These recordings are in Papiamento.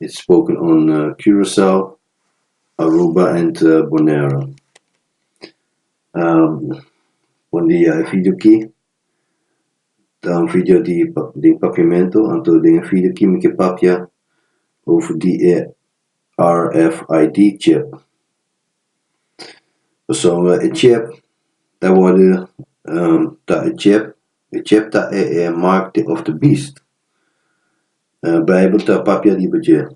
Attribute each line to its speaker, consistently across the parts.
Speaker 1: It's spoken on Curaçao, Aruba and Bonaire. Bon dia e video aki ta un video di den papiamento anto den e video aki mi ke papia over di e RFID chip. Pasobra e chip ta worde ta e chip Egypt ta e e mark di of the beast. Bijbel ta papia riba dje.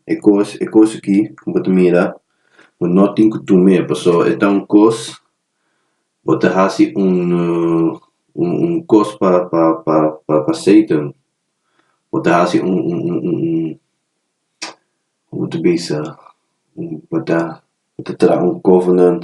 Speaker 1: E cos e cos aki cu bo ta mira bo no tin cu tume paso e ta un cos bo ta haci un un cos pa pa pa pa pa Satan bo ta haci un un un un un how bo ta bisa un bo ta bo ta traha un covenant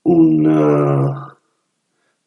Speaker 1: un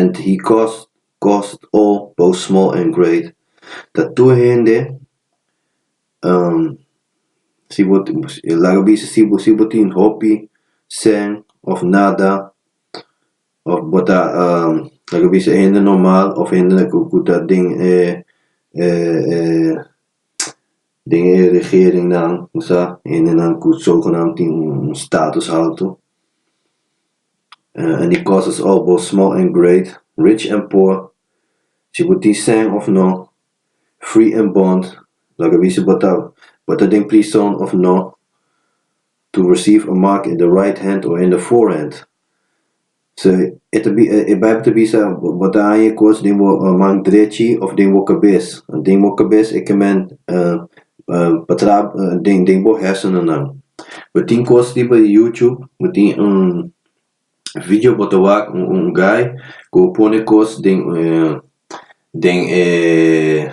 Speaker 1: and he caused caused all both small and great ta tur hende um si bo tin laga bisa si bo si bo tin hopi sèn of nada of bo ta um laga bisa hende normal of hende ku ta den e e e Den e regeringnan ku sa hendenan ku so ku nan tin un status haltu, en di kosas òf bo small en great, rich en poor, si bo tin sèn òf nò, free en bond, laga bi si bo ta bo ta den prison òf nò, to receive a mark in the right hand or in the forehand. So, e ta bi, e Bijbel ta bisa, Bo ta haña e kos den bo man drechi of den bo kabes. Den bo kabes e kemen pa traba den den bo hèrsenonan. Bo tin kos riba di YouTube, bo tin un vidio bo ta wak, un un gai ku bo pone kos den den e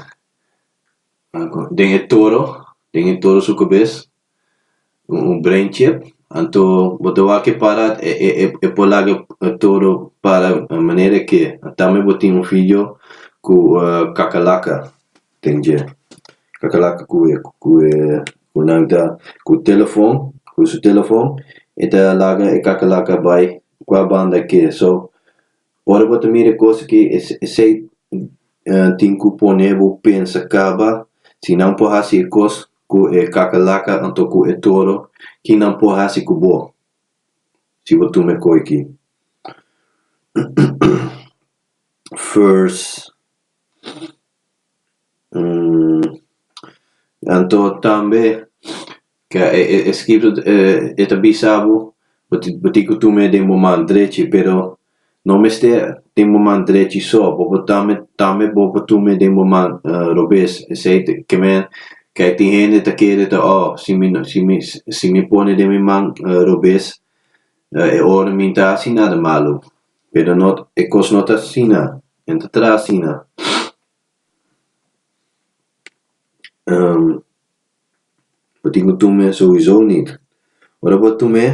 Speaker 1: den e toro, den e toro su kabes, Un un brain chip, anto bo ta wak e para e e e e por laga todo para manera ke tambe bo tin un fijo ku kakalaka den dje, kakalaka ku e ku e ku nan ta ku telefon ku su telefon e ta laga e kakalaka bai kua banda ke so Ora bo ta mira e cosa ki esey tin cu pone bo pensa caba, Si nan por haci e cos cu e cacalaca anto cu e toro, kin nan por haci cu bo si bo tuma e coy ki? Verse 1. Anto tambe Ke e eskrito e ta bisa bo? Bo tin bo tin ku tuma e den bo man drechi, pero no mester den bo man drechi so, bo por tambe tambe bo por tuma e den bo man robes. Esei te ke men kei tin hende ta kere ta o si mi no si mi si mi pone den mi man robes e ora mi ta hasi nada malu, pero no e kos no ta asina, no ta traha asina. Bo tin cu tume sowiso nit. Ora bo a tume,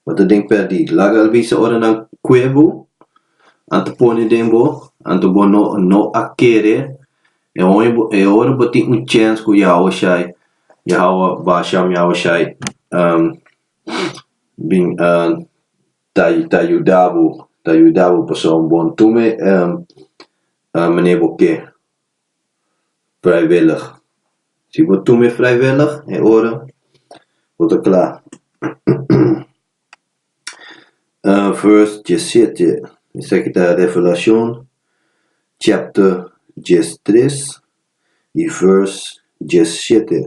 Speaker 1: bo ta den perdi. Laga al bisa ora nan cue bo, anto pone den bo, anto bo no no a kere. E hoña bo e ora bo tin un chance cu Yahoua shai, Yahoua basham, Yahoua shai bin ta ta yuda bo, ta yuda bo pasobra bo tume manera bo ke. vrijwillig si bo tuma e vrijwillig e ora bo ta kla vers diesisiete esaki ta revelashon chapter diesatres y vers diesisiete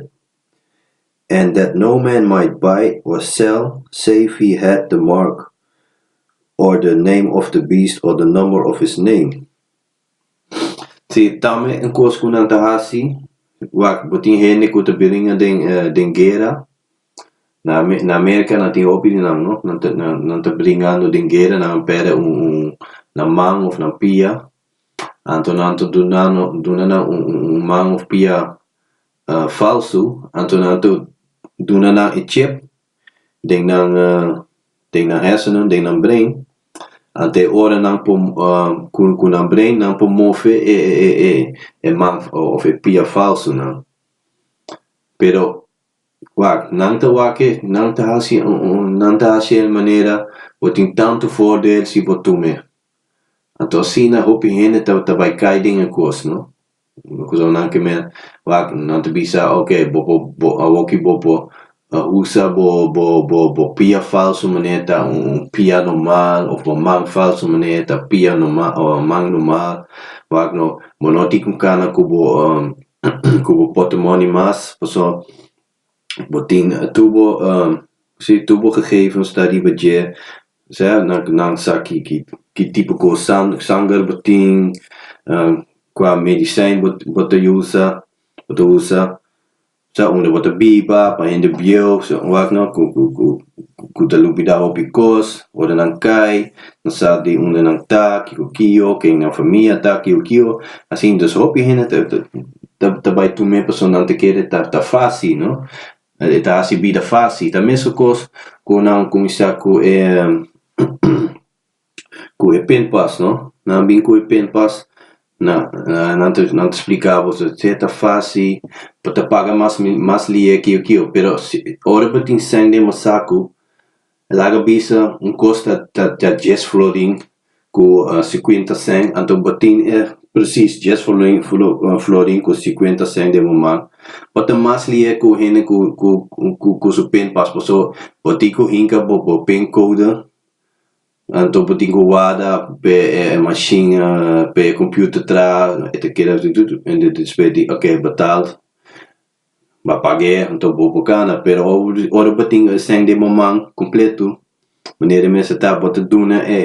Speaker 1: and that no man might buy or sell save he had the mark or the name of the beast or the number of his name Si tambe un kos ku nan ta hasi wak bo tin hende ku ta bringa den den guera na na merka nan tin hopi di nan no nan ta nan ta bringando den guera nan perde un un nan man of nan pia anto nan ta dunando duna nan un un man of pia falsu anto nan ta duna nan e chep. den nan den nan hèsenen, den nan brein, anto e ora nan por ku ku nan brein nan por move e e e e man òf e pia falsonan. Pero wak nan ta wak e nan ta hasi nan ta hasi el manera bo tin tantu voordeel si bo tuma e. Anto asina hopi hende ta ta bai kai den e kos no. Kusonnan ke mer wak nan ta bisa ok bo por bo awor ki bo por usa bo bo bo bo pia falso mane ta un pia normal of bo man falso mane ta pia normal o man normal wak no bo no tin ku kana ku bo ku bo pote moni mas paso. Botin tubo si tubo gegevens ta riba dje sea nan nan sa ki ki ki tipo kos san sanger bo tin kua medisin bo bo ta usa bo ta usa sea unda bo ta biba pa hende bieu sea wak no ku ku ku. ku ta lubidá hopi kos, ora nan kai, nan sa di unda nan ta, kiko kio, ken nan famia ta, kiko kio, asin entonces hopi hende ta ta ta bai tum'é pasobra nan ta kere ta ta fasi no, e ta hasi bida fasi, ta mesun kos ku nan kuminsá ku e. cu e pinpas no nan bin cu e pinpas na nan ta nan ta explica bo so te ta fasi pa ta paga mas mas lie kio kio pero si ora bo tin sèn den bo sacu laga bisa un cos ta ta ta djes florin cu cincuenta sèn anto bo tin e precies djes florin florin cu cincuenta sèn den bo man pa ta mas lie cu hende cu cu cu su pinpas pasobra bo tin cu hinca bo bo pin code Anto bo tin cu warda pe e machine pe e computer tra e ta keda ende despues di ok betal ba pagu'e anto bo por cana pero ora bo tin escen den bo man completo manera mester ta bo ta duna e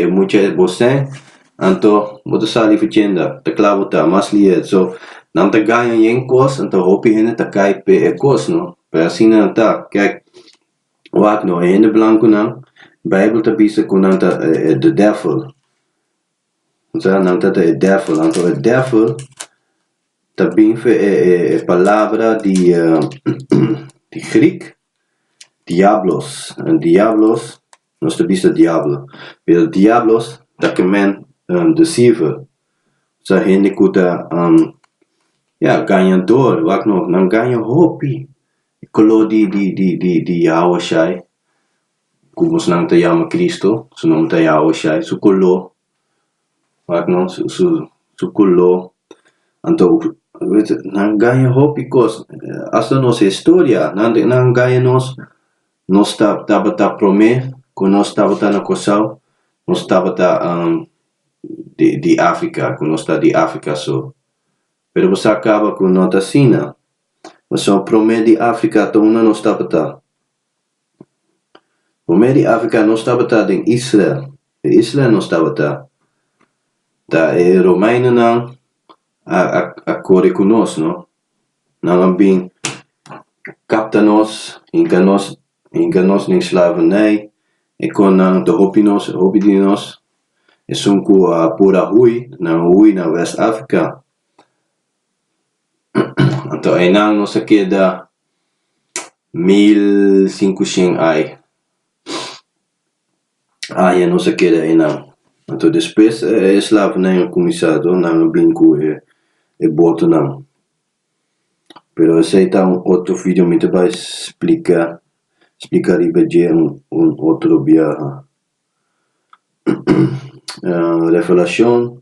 Speaker 1: e mucha e bo escen anto bo ta sali fachenda ta cla bo ta mas lia so nan ta gaña yen cos anto hopi hende ta cay pe e cos no pe asina ta kek. Wak no, e hende blankunan, Beibel ta bisa ku nan ta e the devil, o sea, nan ta ta e devil. Anto e devil ta bin fen e e e palabra di di Griek diablos, en diablos nos ta bisa diablo, pero diablos ta kemen deceiver, o sea, hende ku ta, ya, gañador, wak no, nan gaña hopi. E color di di di di di Yahuashai, cu bosnan ta yama Cristo, su nomber ta Yahuashai, su color, wak no, su su su color, anto nan gaya hopi cos, hasta nos historia, nan nan gaya nos, nos ta tabata prome cu nos tabata na Curaçao, nos tabata di di Africa, cu nos ta di Africa so, pero bosa caba cu no ta asina. Paso prome di Africa ta unda nos tabata. Prome di Africa nos tabata den Israel. E isla nos tabata ta e Romeinonan a a kore ku nos no. Nan a bin kapta nos hinka nos hinka nos den slavernij e kon nan ta hopi nos hopi di nos esun ku a por a hui nan a hui na West Africa. Anto einan nos a keda mil sinku shen ai, aña nos a keda einan. Anto despues e esclavonan a cuminsa toh nan a bini cu e botonan. Pero esei ta un otro video mi ta bay splica, splica riba dje un otro biaha. Refelacion.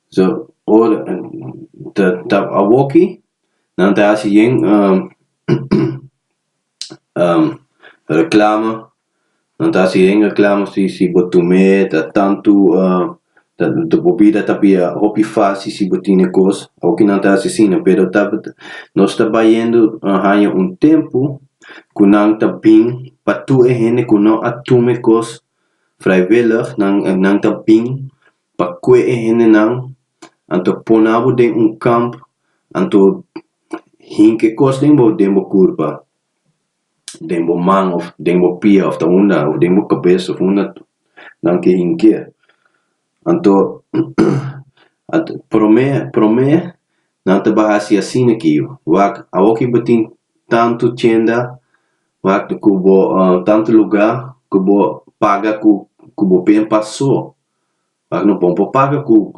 Speaker 1: So ora ta ta awoki nan ta hasi yen reclama nan ta hasi yen reclama si si bo tume ta tantu bo bida ta bia hopi faci si bo tine cos awoki nan ta hasi asina pero ta nos ta bayendo haya un tempo cu nan ta bin pa tur e hende cu no a tume cos vrijwillig nan nan ta bin Pa kue e hendenan anto pone abo den un kamp, anto hinke kos den bo den bo kurpa, den bo man òf den bo pia òf ta unda, òf den bo kabes òf unda nan ke hink'é? Anto, promé promé nan ta baha hasi asina ki yu, wak awor ku bo tin tantu tienda, wak ku bo tantu lugá ku bo paga ku ku bo ben pasó, Bak no bon por paga cu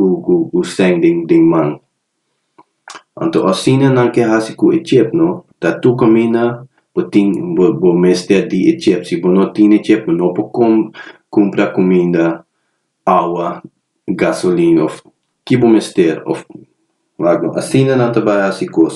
Speaker 1: cu seng den man. Anto asina nan ke haci cu e chep no ta tur camina bo tin bo mester di e chep si bo no tin e chep bo no por com cumpra cuminda, awa, gasolin of ki bo mester of asina nan ta bay haci cos.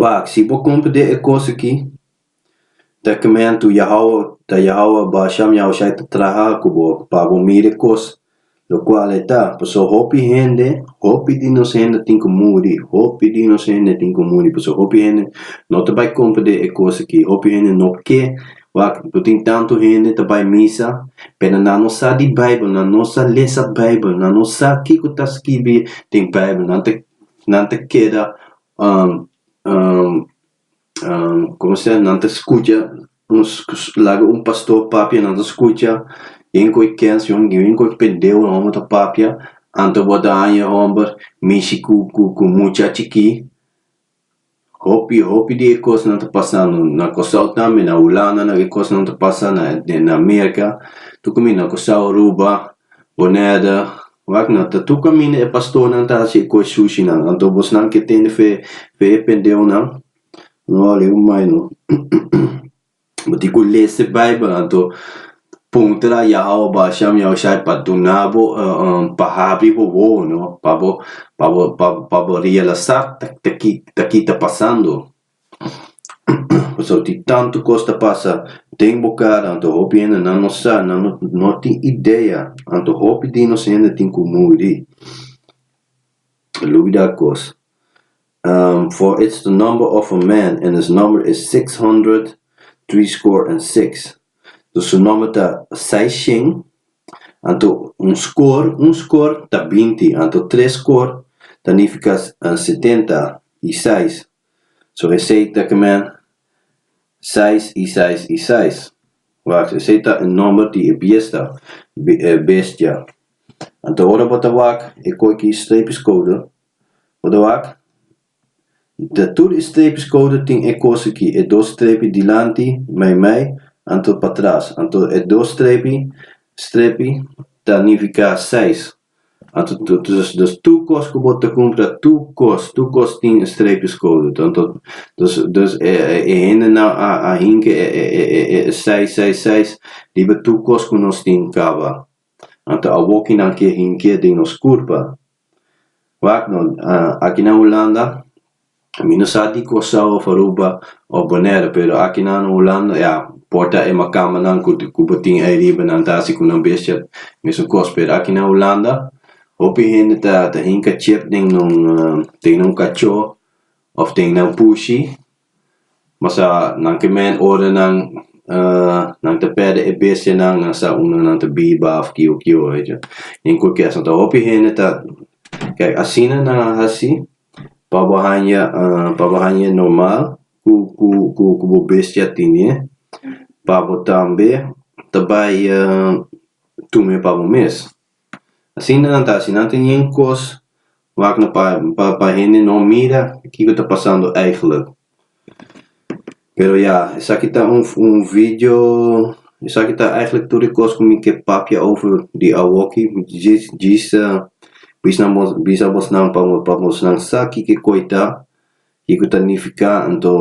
Speaker 1: Wak, si bo kumprendé e kos akí, ta kimentu Yahawah, ta Yahawah Baal Sham Yahushai ta traha ku bo pa bo mira e kos, lokual e ta, pasobra hopi hende, hopi di nos hende tin ku muri, hopi di nos hende tin ku muri, pasobra hopi hende no ta bai kumprendé e kos akí, hopi hende no ke, wak, ku tin tantu hende ta bai misa, pero nan no sa di Beibel, nan no sa lesa Beibel, nan no sa kiko ta skibi den Beibel, nan ta nan ta keda nan ta skucha laga un pastor papia nan ta skucha yen koe kens yen koe pendeu nan hombru ta papia anto bo ta haña homber mishi ku ku ku mucha chikí. Hopi hopi di e cosnan ta pasa no na Cosao tambe na Hulanda na e cosnan ta pasa na na America tucu mi na Cosao Aruba Bonaiada wak na ta tucu caminda e pastornan ta haci e coe sushi nan anto bos nan ke tende fe fe e pendeonan no hali un mai no. Bo tin ku lese Beibel anto puntra Yahawah Bashan Yahushai pa duna bo pa habri bo wowo no pa bo pa bo pa bo realasá ta ki ta pasando pasó tin tantu kos ta pasa den bo kara anto hopi hende nan no sa nan no tin idea anto hopi di nos hende tin ku muri lubidá kos For it's the number of a man, en his nomber is six hundred, driescore en seks, dus su nomber ta seiscien, anto un score, un score, ta binti, anto tres score ta nifica setenta i seis, so esei ta kemen seis i seis i seis, wak, esei ta e nomber di e biesta, bestia, anto ora bo ta wak e koiki streepiskode, Oda wak, ta tur e streepjes koude tin e kos aki, e dos streepje dilanti, meimei, anto patras, anto e dos streepje, strepi, ta nifiká seis. Anto dus dus tur kos ku bo ta kumpra, tur kos, tur kos tin e streepjes koude, anto dus dus e e hendenan a a hinke e e e e e seis seis seis riba tur kos ku nos tin kaba. Anto a wokinan ke hink'é den nos kurpa. Wak no, aki na Hulanda mi no sa di Kòrsou of Aruba of Bonèru pero aki na no Hulanda ya por ta e makamanan ku bo tin ei riba nan ta hasi ku nan bestia mesun kos pero aki na Hulanda hopi hende ta ta hinka chèp den nan den nan kachó of den nan pushi. Bo sa nan ke men ora nan nan ta perde e bestianan nan sa unda nan ta biba of kio kio den kulkeso ta hopi hende ta kei asina nan a hasi pa bo haña pa bo haña normal ku ku ku ku bo bestia tine pa bo tambe ta bai tume pa bo mes Asina nan ta. Si nan ta ñen kos wak no pa pa pa hende no mira kiko ta pasando eigenlik. Pero ya esaki ta un un video esaki ta eigenlik tur e kos ku mi ke papia over di awoki djis djis bis nan bo bisa bosnan pa bo pa bosnan sa kiko koi ta kiko ta nifika anto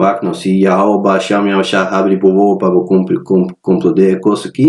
Speaker 1: wak no si ya hawo basha mi a basha habri bo wowo pa bo kumpli kumpli konkludé e kos aki.